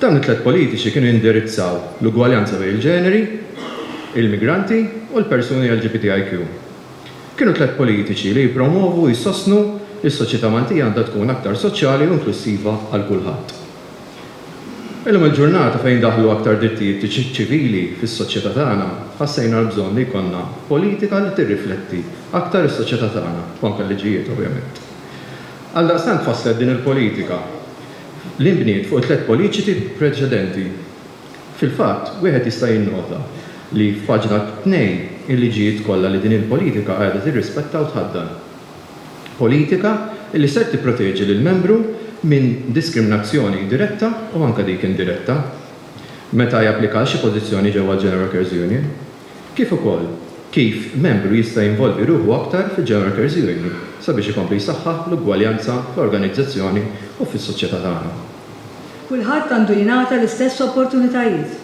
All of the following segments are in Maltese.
Dawn it-tliet politiċi kienu jindirizzaw l-ugwaljanza bejn il-ġeneri, il-migranti u l-persuni LGBTIQ. Kienu tliet politiċi li jippromwovu u jsostnu li s-soċjetà Maltija għandha tkun aktar soċjali u inklussiva għal kulħadd. Illum il-ġurnata fejn daħlu aktar drittijiet ċivili fis-soċjetà tagħna, ħassejna l-bżonn li jkollna politika li tirrifletti aktar is-soċjetà tagħna, u anke l-liġijiet ovvjament. Għaldaqstant tfasslet din il-politika. li nbniet fuq it-tliet poliċiti preċedenti. Fil-fatt, wieħed jista' jinnota li f'paġna tnejn il-liġijiet kollha li din il-politika qiegħda tirrispetta u tħaddan. Politika li ser tipproteġi lill-membru minn diskriminazzjoni diretta u anke dik indiretta meta japplika għal xi pożizzjoni ġewwa l-General Carers Union. kif ukoll kif membru jista' jinvolvi ruħu aktar fil-General Workers Union sabiex ikompli jsaħħaħ l-ugwaljanza fl-organizzazzjoni u fis-soċjetà tagħna. Kulħadd għandu jingħata l-istess opportunitajiet.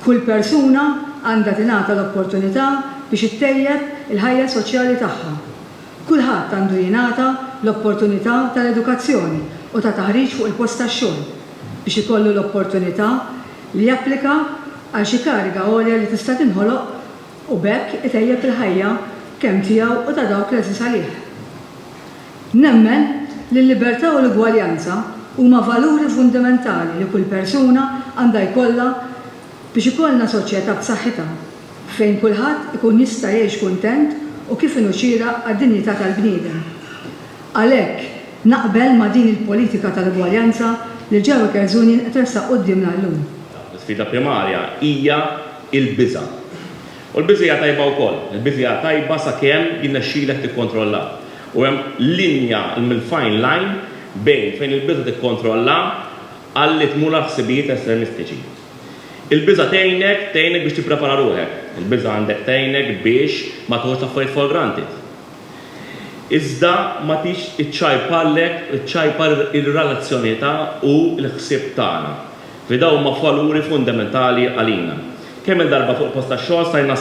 Kull persuna għandha tingħata l-opportunità biex ittejjeb il-ħajja soċjali tagħha Kulħadd għandu jingħata l-opportunità tal-edukazzjoni u ta' taħriġ fuq il-post tax-xogħol biex ikollu l-opportunità li japplika għal xi kariga għolja li tista' tinħoloq u b'hekk itejjeb il-ħajja kemm tiegħu u ta' dawk l-għeżież għalih. Nemmen li l-libertà u l-ugwaljanza huma valuri fundamentali li kull persuna għandha jkollha biex ikollna soċjetà b'saħħitha. fejn kulħadd ikun jista' jgħix kuntent u kif inhu xieraq għad-dinjità tal-bniedem. Għalhekk, naqbel ma' din il-politika tal-ugwaljanza li Joe Kerzunian qed iressaq quddiemna llum. L-isfida primarja hija l-biża'. U l-biża' hija tajba wkoll. Il-biża' hija tajba sakemm jirnexxilek tikkontrollha. U hemm linja, l-fine line, bejn fejn il-biża' tikkontrolla għal li tmur għal ħsibijiet estremistiċi. Il-biża' tgħinek, tgħinek biex tipprepara ruħek. Il-biża' għandek tgħinek biex ma teħux l-affarijiet for granted. Iżda ma tridx iċċajparlek, iċċajpar ir-relazzjonità u l-ħsieb tagħna, li dawn huma valuri fundamentali għalina. Kemm-il darba fuq il-post tax-xogħol stajna,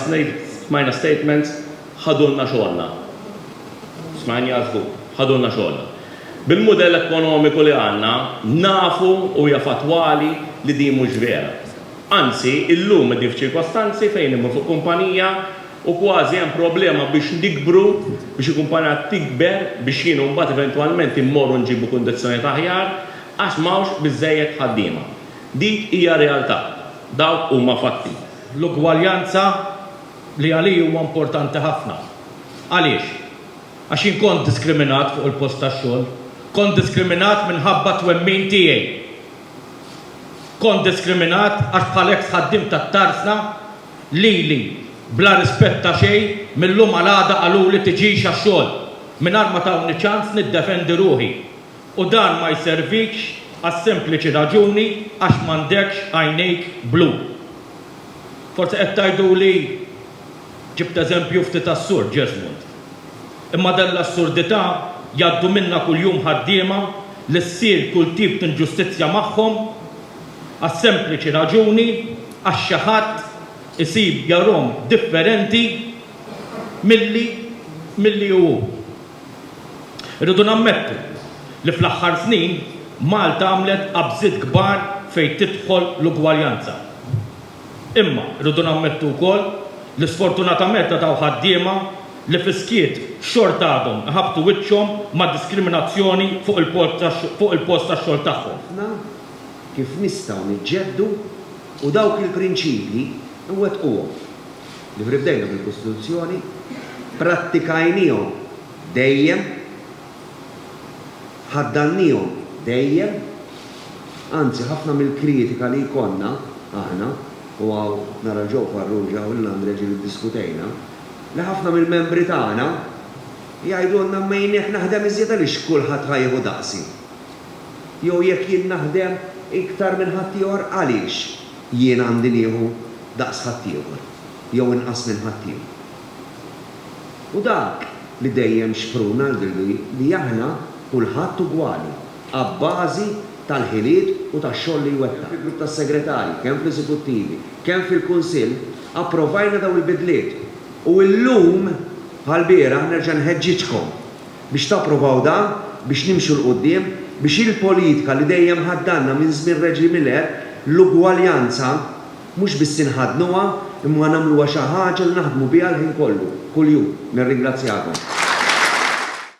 smajna statements, Ħadulna xogħolna. Smajni għażlu, ħadulna xogħolna. Bil-mudell ekonomiku li għandna, nafu u hija fattwali li din mhux vera. Anzi, illum qegħdin f'ċirkostanzi fejn immur fuq kumpanija u kważi hemm problema biex nikbru, biex il-kumpanija tikber biex jien u mbagħad eventwalment immorru nġibu kundizzjonijiet aħjar għax m'hawnx biżżejjed ħaddiema. Dik hija realtà. Dawk huma fatti. L-ugwaljanza li għalij huwa importanti ħafna. Għaliex? Għax jien kont diskriminat fuq il-post tax-xogħol. Kont diskriminat minħabba t-twemmin tiegħi. Kont diskriminat għax bħal eks ħaddiem tat-tarsna lili bla rispett ta' xejn mil-lum għal għada qaluli tiġix għax-xogħol mingħajr ma tawni ċans niddefendi ruħi. U dan ma jservikx għas-sempliċi raġuni għax m'għandekx għajnejk blu. Forsi qed tgħiduli, Ġibt eżempju ftit assur, Jesmond. Imma dan l-assurdità jgħaddu minnha kuljum ħaddiema li ssir kull tip t'inġustizzja magħhom għas-sempliċi raġuni għax xi ħadd isib jarhom differenti milli milli hu. Irridu nammettu li fl-aħħar snin Malta għamlet qabżiet kbar fejn tidħol l-ugwaljanza. Imma rridu nammettu wkoll li sfortunatament għad hawn ħaddiema li fis-skiet xorta għadhom iħabbtu wiċċhom ma' diskriminazzjoni fuq il-post tax-xogħol tagħhom. Ħafna kif nistgħu niġġeddu u dawk il-prinċipji nwettquhom. li prevdejna fil-Kostituzzjoni, pprattikajniehom dejjem, ħaddannihom dejjem, anzi ħafna mill-kritika li jkollna aħna, u hawn nara l Joe Farrugia u lil Andrea Gil iddiskutejna, li ħafna mill-membri tagħna jgħidulna min jekk naħdem iżjed għaliex kulħadd ħa jieħu daqsi? Jew jekk jien naħdem iktar minn ħaddieħor għaliex? Jien għandi nieħu daqs ħaddieħor jew inqas minn ħaddieħor. U dak li dejjem xpruna jidhirli hi li aħna kulħadd ugwali abbażi tal-ħiliet u tax-xogħol li jwettaq. Fil-grupp tas-segretarji, kemm fl-eżekuttivi, kemm fil-kunsill, approvajna dawn il-bidliet u llum bħall-bieraħ nerġa' nħeġġiġkom Biex tapprovaw dan, biex nimxu 'l quddiem, biex il-politika li dejjem ħaddgħanna minn żmien Reġi Miller, l-ugwaljanza, mhux biss inħaddnuha, imma nagħmluha xi ħaġa li naħdmu biha l-ħin kollu, kuljum. Nirringrazzjakom.